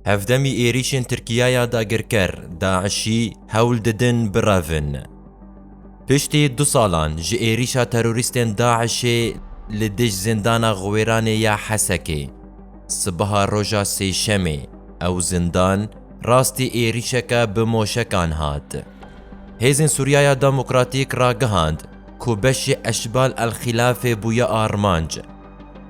Hevdemî êrîşên Tirkiyaya dagirker, DAIŞ'î hewl didin birevin. Piştî du salan ji êrîşa terorîstên DAIŞ'ê li dij Zindana Xwêranê ya Hesekê, sibeha roja Sêşemê ew zindan rastî êrîşeke bi moşekan hat. Hêzên Sûriyaya Demokratîk ragihand ku beşê Eşbal El Xîlafê bûye armanc.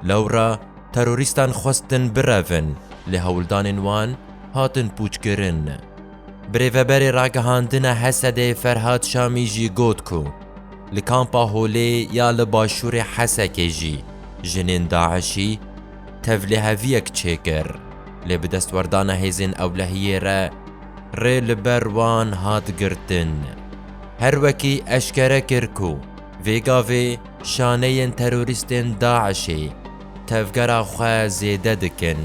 Lewra terorîstan xwestin birevin, lê hewldanên wan hatin pûçkirin. Birêveberê Ragihandina Hesedê Ferhad Şamî jî got ku li Kampa Holê ya li başûrê Hesekê jî jinên DAIŞ'î tevliheviyek çêkir, lê bi destwerdana hêzên ewlehiyê re rê li ber wan hat girtin. Her wekî eşkere kir ku Vê gavê şaneyên terorîstên DAIŞ'ê tevgera xwe zêde dikin.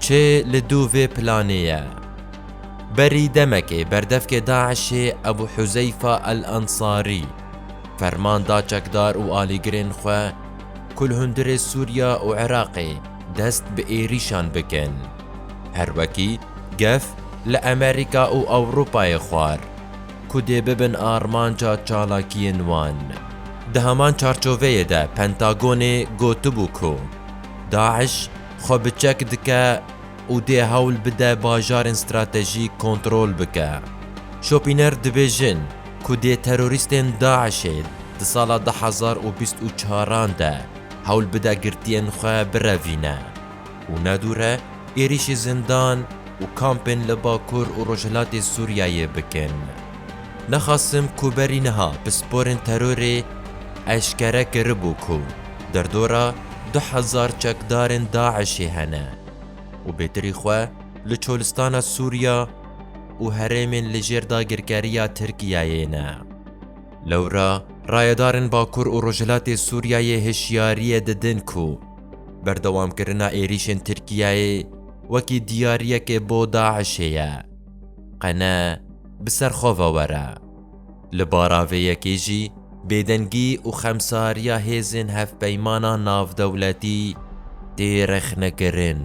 Çi li dû vê planê ye? Berî demekê berdevkê DAIŞ'ê Ebû Huzeyfa El Ensarî ferman da çekdar û alîgirên xwe ku li hundirê Sûriya û Iraqê dest bi êrîşan bikin. Her wekî gef li Amerîka û Ewropayê xwar. ku dê bibin armanca çalakiyên wan. Di heman çarçoveyê de Pentagonê gotibû ku DAIŞ xwe bi çek dike û dê hewl bide bajarên stratejîk kontrol bike. Şopîner dibêjin ku dê terorîstên DAIŞ'ê di sala du hezar û bîst û çaran de hewl bide girtiyên xwe birevîne. û ne dûr e êrîşî zindan û kampên li Bakur û Rojhilatê Sûriyeyê bikin. Nexasim ku berî niha pisporên terorê eşkere kiribû ku derdora du hezar çekdarên DAIŞ'ê hene û bêtirî xwe li Çolistana Sûriya û herêmên li jêr dagirkeriya Tirkiyeyê ne. Lewra rayedarên Bakur û Rojhilatê Sûriyeyê hişyariyê didin ku, Berdewamkirina êrîşên Tirkiyeyê wekî diyariyekê bo DAIŞ'ê ye. Qene bi ser xwe ve were. Li bara vê yekê jî bêdengî û xemsariya hêzên hevpeymana navdewletî tê rexnekirin.